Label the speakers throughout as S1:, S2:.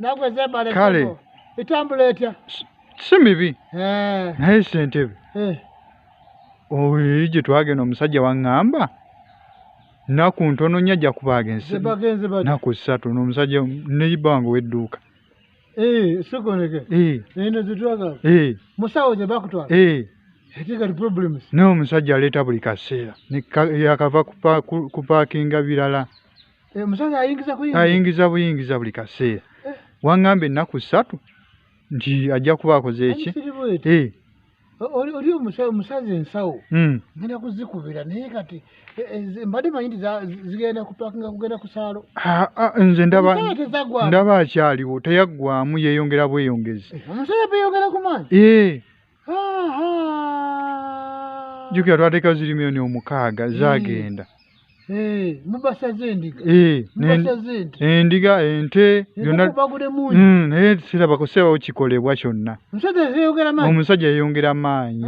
S1: nagwe zebale kale
S2: etambula
S1: etya si mibi
S2: eh. naye sentebe eh. oyo gye twagenda omusajja waŋŋamba naku ntono nya ajja kuba agenze naku ssatu nomusajja neyiba wange wedduuka eh,
S1: sikoneke eno zetwagala musawo zebakutwala n'omusajja aleeta buli
S2: kaseera yakava kupaakinga birala Eh, omusajja
S1: ayingiza kuyingiza ayingiza
S2: buyingiza buli kaseera eh. wangamba ennaku ssatu nti ajja kuba akoze eki eh.
S1: oli omusazi ensawo hmm. ngenda kuzikubira naye kati mbadde manyi nti zigenda kupakinga kugenda ku saalo ah, ah, nze
S2: ndaba akyaliwo teyaggwamu yeeyongera bweyongezi omusajja beyongera ku
S1: maanyi
S2: jukira twateka ziri milioni omukaaga zagenda eh,
S1: mubasaze endiga eh,
S2: endiga ente mm, naye sirabako sebawo kikolebwa kyonna omusajja yeyongera maanyi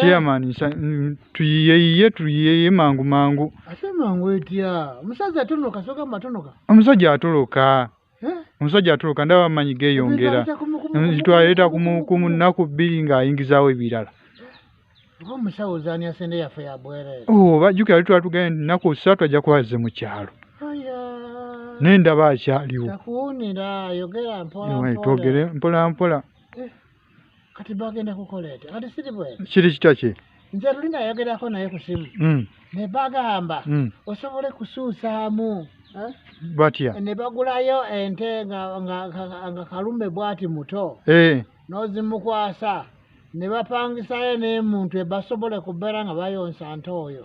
S1: chairman
S2: mm, tuyiyeiye tuyiyeiye mangu mangu
S1: omusajja atoloka
S2: omusajja atoloka ndaba amanyi geyongera twaleeta ku munaku bbiri ng'ayingizaawo ebirala
S1: oba jjuki ali twatugende
S2: nti nnaku osatu ajja kuba azze mu kyalo naye ndaba akyaliwo
S1: twogere
S2: mpolampola
S1: kati bagenda kukola ekyo kati siri bwe kiri kitya ki
S2: nze luli nayogerako
S1: naye ku simu hmm. ne bagamba hmm. osobole kusuusaamu eh?
S2: batya ne bagulayo
S1: ente nga kalume bwati muto eh. n'ozimukwasa ne bapangisayo n'emuntu ebasobole kubeera nga bayonsa nte oyo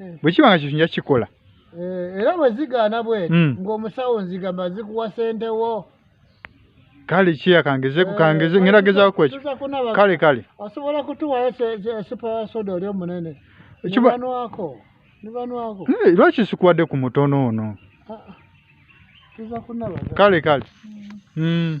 S2: eh. bwe kiba nga kintu nja kikola eh, era bwe
S1: zigaana bweti hmm. ng'omusawo nzigamba zikuwa sente wo kale
S2: kiya kangeze eh, kukangeze ngera gezaako kwekyo kale kale osobola
S1: kutuwayo esupa ya soda oli omunene nibanwako nibanwako
S2: lwaki sikuwadde ku mutono ono ah, ah. kale
S1: kale
S2: hmm.